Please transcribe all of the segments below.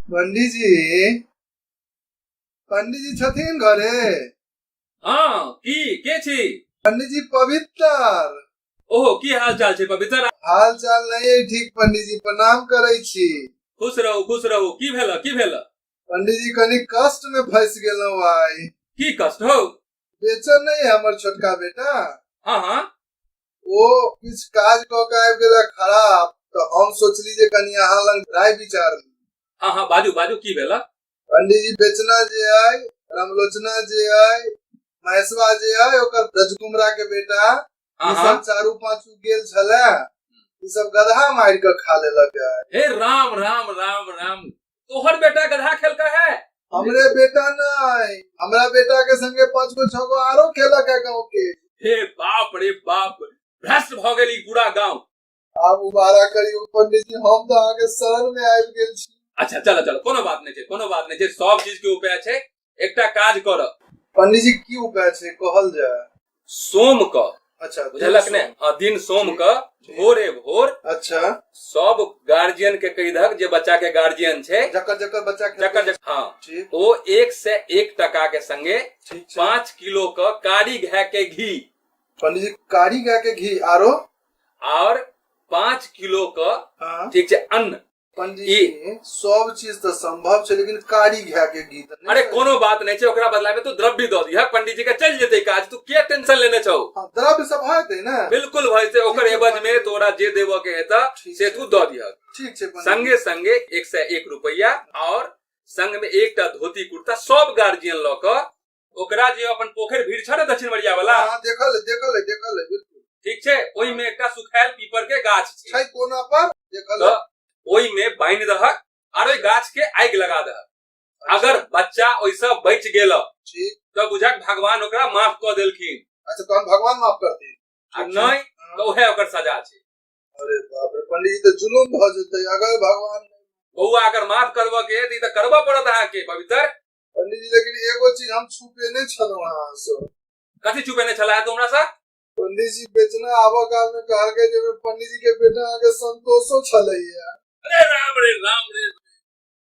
पंडीजी पंडीजी छथिन घरे हाँ की के छी पंडीजी पवित्र ओहो की हाल चाल छै पवित्र हाल चाल नहीं है ठीक पंडीजी प्रणाम करे छी खुश रहू खुश रहू की भेल की भेल पंडीजी कनी कष्ट में फंस गेलहुं आइ की कष्ट हो बेचन नहीं है हमर छोटका बेटा हाँ हाँ ओ किछ काज क के आबि गेला खराब तो हम सोचली जे कनी अहाँ लग राय विचार ली हाँ हाँ बाजू बाजू की भेला पंडित जी बेचना जे आय रामलोचना जे आय महेशवा जे आय ओकर ब्रजकुमरा के बेटा ई आहा। सब चारू पांचू गेल छले ई सब गधा मार के खा लेलक है। हे राम राम राम राम तोहर बेटा गधा खेलका है हमरे बेटा नहीं हमरा बेटा के संगे पांच गो छह गो आरो खेलक है गाँव के हे बाप रे बाप भ्रष्ट भ गेल ई पूरा गांव आप मुबारक करी पंडित जी हम तो आगे शरण में आयल गेल छी अच्छा चलो चलो कोनो बात नहीं छे कोनो बात नहीं छे सब चीज के उपाय छे एकटा काज कर पंडित जी की उपाय छे कहल जाय सोम क अच्छा बुझलक ने हाँ दिन सोम क भोरे भोर अच्छा सब गार्जियन के कही दहक जे बच्चा के गार्जियन छे जकर जकर बच्चा के जकर जकर हाँ ठीक ओ एक से एक टका के संगे ठीक छै पाँच किलो क कारी घे के घी पंडित जी कारी गाय के घी आरो और पांच किलो क हाँ। ठीक छै अन्न पंडित ई- जी सब चीज तऽ संभव छै लेकिन कारी घा के गीत नहि अरे छै। कोनो बात नहीं छै ओकरा बदला में तू द्रव्य दऽ दिह पंडित जी के चल जेतै काज तू के टेंशन लेने छौ हाँ, द्रव्य सब हेतै ने बिल्कुल भाई से ओकर एवज में तोरा जे देबऽ के हेतऽ ठीक से छै। तू दऽ दिह ठीक छै पंडित जी। संगे संगे एक सौ एक रुपया और संग में एकटा धोती कुर्ता सब गार्जियन लऽ कऽ ओकरा जे अपन पोखरि भीड़ छै ने दक्षिण मरिया वाला हाँ, देखल है, देखल है, देखल है, बिल्कुल। ठीक छै ओहि में एकटा सुखायल पीपर के गाछ छै छै कोना पर देखल है। तऽ ओहि में बान्हि दहक आर ओहि गाछ के आगि लगा दहक अगर बच्चा ओहिसँ बचि गेल ठीक तऽ बुझक भगवान ओकरा माफ कऽ देलखिन अच्छा तो हम भगवान माफ करती आ नहि तऽ उहे ओकर सजा छै अरे बाप रे पंडित जी तो जुलूम भ जते अगर भगवान बौआ अगर माफ करबऽ के तऽ ई तऽ करबऽ पड़त अहाँके पवित्र पंडित जी लेकिन एगो चीज हम छुपे नहीं छलो हां सो कथि छुपे नहीं छला है तुमरा सा पंडित जी बेचना आवा काल में कहा गए जे पंडित जी के बेटा आगे संतोषो छले है अरे राम रे राम रे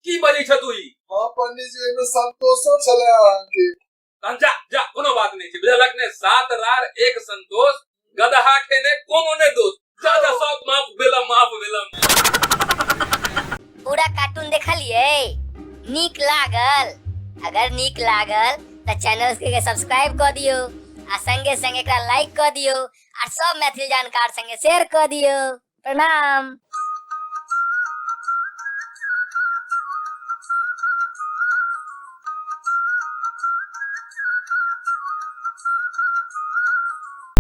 की बजे छ तू ई हां पंडित जी में संतोषो छले आके तन जा जा कोनो बात नहीं छै बुझलक ने सात रार एक संतोष गदा हाखे ने कोनो ने दो दादा सब माफ बेला माफ बेला पूरा कार्टून देखलिए नीक लागल अगर नीक लागल तो चैनल के सब्सक्राइब कर दियो आ संगे संगे एकरा लाइक कर दियो आ सब मैथिली जानकार संगे शेयर कर दियो प्रणाम